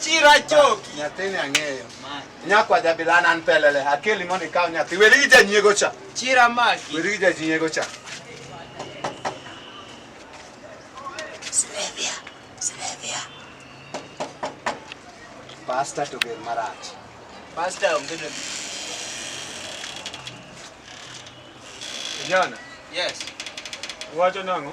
Chira choki. Nyathini ang'eyo. Nyakwa jabilana an pelele. Akeli mondo ikaw nyathi. Weri gi janyiego cha. Chira maki. Weri gi janyiego cha. Silvia. Silvia. Pasta to ger marach. Pasta onge ne. Jana. Yes. Wacho nang'o?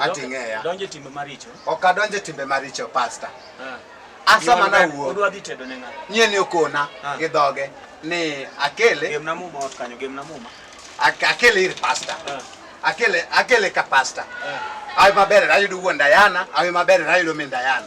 Ati ng'eya. Donjo e timbe maricho. Ok adonjo e timbe maricho pasta. Ah. Asa mana wuo. Odwa dhi tedo ne ng'ato. Nyie ni okona ah. gi dhoge ni akele. Gemna muma ot kanyo, gemna muma. Akele ir pasta. Ah. Akele akele ka pasta. Awe maber ayudo wuon Dayana, awe maber ayudo min Dayana.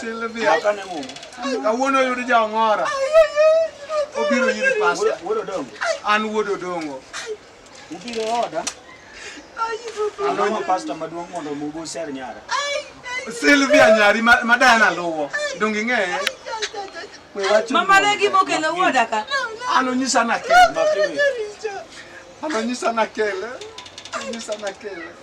Sylvia. Makane mum. Kawuono oyud jang'ora. Obiro nyiri pasta. Wuod Odongo. An wuod Odongo. Ubiro oda. Alonyo pasta maduong' mondo mugo ser nyara. Sylvia nyari ma Diana luwo. Donge ing'eye? Mama legi mokelo wuoda ka. An onyisa nakele. An onyisa nakele. Onyisa nakele.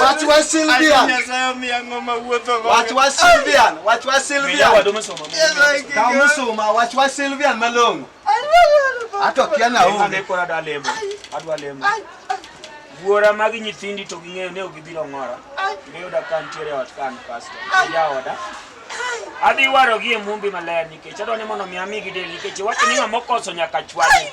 Wach wa Sylvian. Wach wa Sylvian. Wach wa Sylvian. Kaw musuma wach wa Sylvian malong'o. Ato kia na onge. Ane kora da lemo. Adwa lemo. Wuora mag nyithindi to ging'eyo ni ok gibiro ng'ora. Miyo da kan tiere ot kan pastor. Ya oda. Adhi waro gi e mumbi maler nikech adwa ni mondo mi amigi del nikech wacho ni ng'ama okoso nyaka chwade.